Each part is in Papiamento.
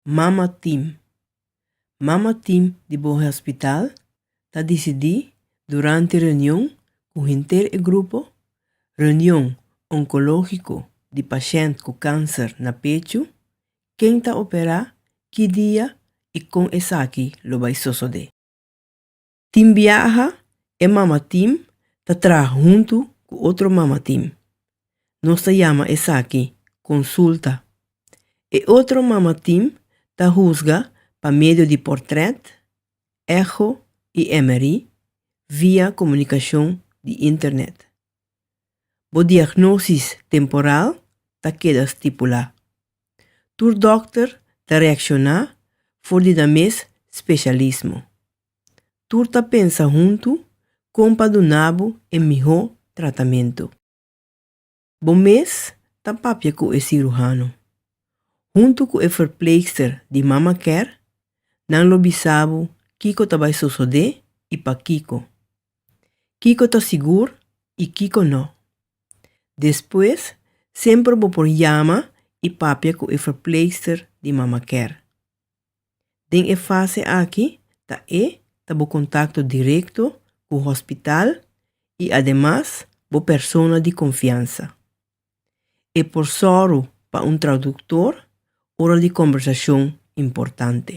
Mama Tim. Mama Tim di Bohe Hospital ta disidí durante reunion ku henter e grupo, Reunion Onkológiko di Pashènt ku Kanser na Pechu, ken ta operá, ki dia i kon esaki lo bai sosodé. Tin biaha e mamatim ta traha huntu ku otro mamatim. Nos ta yama esaki konsulta. E otro mamatim ta husga pa medio di portrèt, echo i MRI via komunikashon di internet. Bo diagnosis temporal ta keda stipulá. Tur dòkter ta reakshoná for di nan mes speshalismo. Tur ta pensa huntu kon pa duna bo e mihó tratamentu. Bo mes ta papia ku e siruhano. Huntu ku e verpleegster di Mama Care, nan lo bisa bo kiko ta bai sosodé i pakiko. Kiko ta sigur i kiko nò. Despues, semper bo por yama i papia ku e verpleegster di Mama Care. Den e fase aki ta e ta bo kontakto direkto ku hospital i ademas bo persona di konfiansa. E por sòru pa un traduktor ora di kombersashon importante.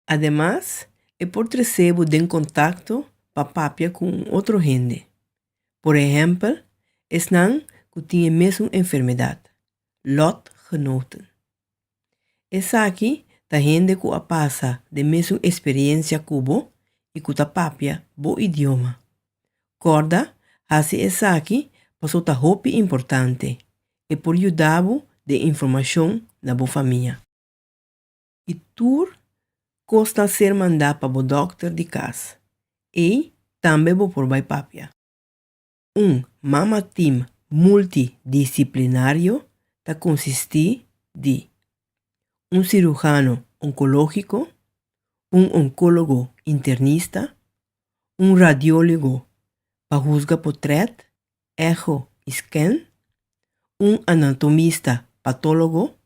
Ademas, e por trese bo den kontakto pa papia ku un otro hende, por ehèmpel esnan ku tin e mesun enfermedat, lotgenoten. Esaki ta hende ku a pasa den mesun eksperiencia ku bo i ku ta papia bo idioma. Kòrda, hasi esaki paso ta hopi importante, e por yuda bo den informashon na bo famia. I tur kos ta ser manda pa bo dòkter di kas. Ei tambe bo por bai papia. Un Mama Team Multidisciplinario ta konsistí di un sirujano onkológiko, un onkólogo internista, un radiólogo pa husga potrèt, echo i scan, un anatomista patólogo,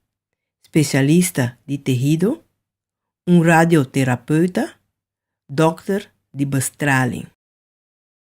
spesialista di tehido, un radioterapeuta, dòkter di bestraling.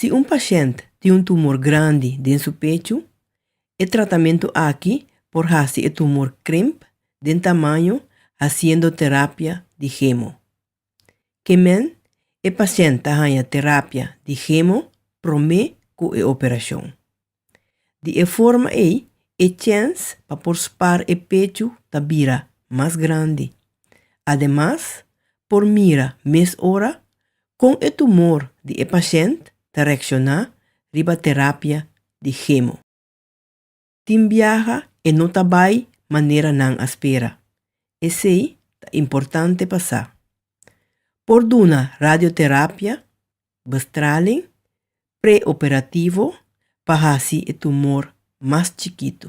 Si un pashent tin un tumor grandi den su pechu, e tratamentu aki por hasi e tumor krimp den tamaño hasiendo terapia di hemo. Kemen e pashent ta haña terapia di hemo promé ku e operashon. Di e forma ei, e chèns pa por spar e pechu ta bira mas grandi. Ademas, por mira mes ora kon e tumor di e pashènt ta reakshoná riba terapia di hemo. Tin biaha e no ta bai manera nan a spera. Esei ta importante pa sa. Por duna radioterapia bestraling preoperativo pa hasi e tumor mas chikitu.